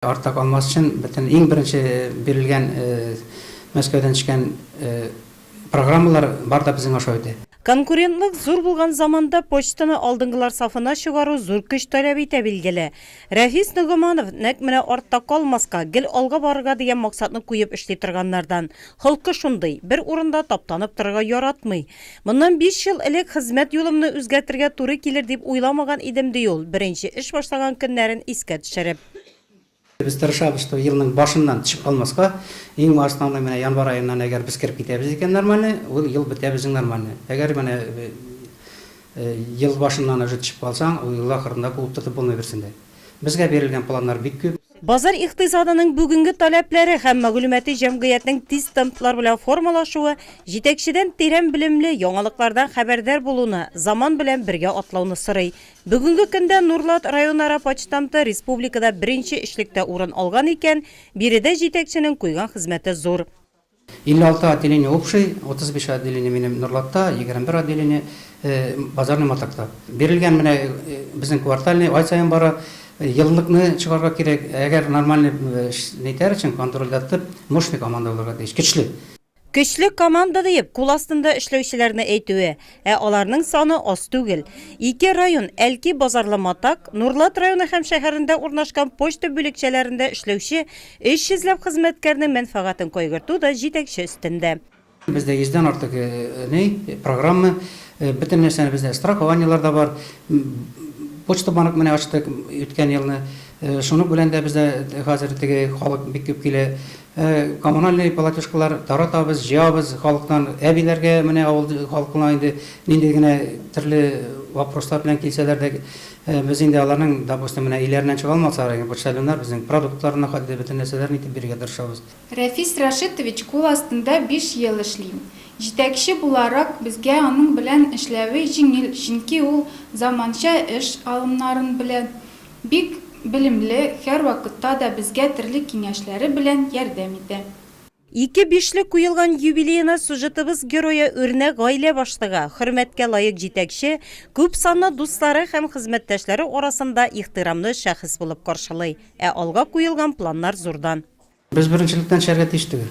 Артта калмас өчен бөтен иң беренче бирелгән Мәскәүдән төшкән программалар бар да безнең аша үтә. Конкурентлык зур булган заманда почтаны алдынгылар сафына чыгару зур көч таләп итә, билгеле. Рәфис Ногоманов нәкъ менә артта калмаска, гел алга барырга дигән максатны куеп эшли торганнардан. Холкы шундый, бер урында таптанып торырга яратмый. Моннан биш ел элек хезмәт юлымны үзгәртергә туры килер дип уйламаган идем, ди ул, беренче эш башлаган көннәрен искә төшереп. Без тырышабыз, что елның башыннан төшеп калмаска. Иң основной менә январь аеннан әгәр без кереп китәбез икән нормальный, ул ел бетә безнең нормальный. Әгәр менә ел башыннан уже төшеп калсаң, ул ел ахырында куып тотып булмый берсен дә. Безгә бирелгән планнар бик күп. Базар икътисадының бүгенге таләпләре һәм мәгълүмати җәмгыятьнең тиз темплар белән формалашуы җитәкчедән тирән белемле, яңалыклардан хәбәрдар булуны, заман белән бергә атлауны сорый, Бүгенге көндә Нурлат районара почтамты республикада беренче өчлектә урын алган икән, биредә җитәкченең куйган хезмәте зур. 56 отделение общей, 35 отделение минем Нурлатта, 21 отделение Базарный Матакта. Бирелгән менә безнең квартальный, ай саен бара, еллыкны чыгарга кирәк. Әгәр нормальный эш нитәр өчен, контрольдә тып, мощный команда булырга тиеш, көчле. Көчле команда диеп кул астында эшләүчеләрне әйтүе, ә аларның саны аз түгел. Ике район, Әлки Базарлы Матак, Нурлат районы һәм шәһәрендә урнашкан почта бүлекчәләрендә эшләүче 300 ләп хезмәткәрнең мәнфәгатен кайгырту да җитәкче өстендә. Бездә йөздән артык ни, программа, бөтен нәрсәне бездә страхованиелар да бар. Почта банк менә ачтык үткән елны. Шуның белән дә бездә хәзер теге халык бик күп килә. Коммунальный полатюшкалар таратабыз, җыябыз халыктан. Әбиләргә менә авыл халкына инде нинди генә төрле вопрослар белән килсәләр дә, без инде аларның, допустим, менә өйләреннән чыга алмасалар, ягъни почтальоннар безнең продуктларны хәтта бөтен нәрсәләрен итеп бирергә тырышабыз. Рәфис Рәшитович кул астында биш ел эшлим. Җитәкче буларак, безгә аның белән эшләве җиңел, чөнки ул заманча эш алымнарын белә, Бик белемле, һәрвакытта да безгә терлек киңәшләре белән ярдәм итә. Ике бишлек куелган юбилеена сюжетыбыз герое үрнәк гаилә башлыгы, хөрмәткә лаек җитәкче, күп санлы дуслары һәм хезмәттәшләре арасында ихтирамлы шәхес булып каршылый, ә алга куелган планнар зурдан. Без беренчелектән төшәргә тиеш түгел.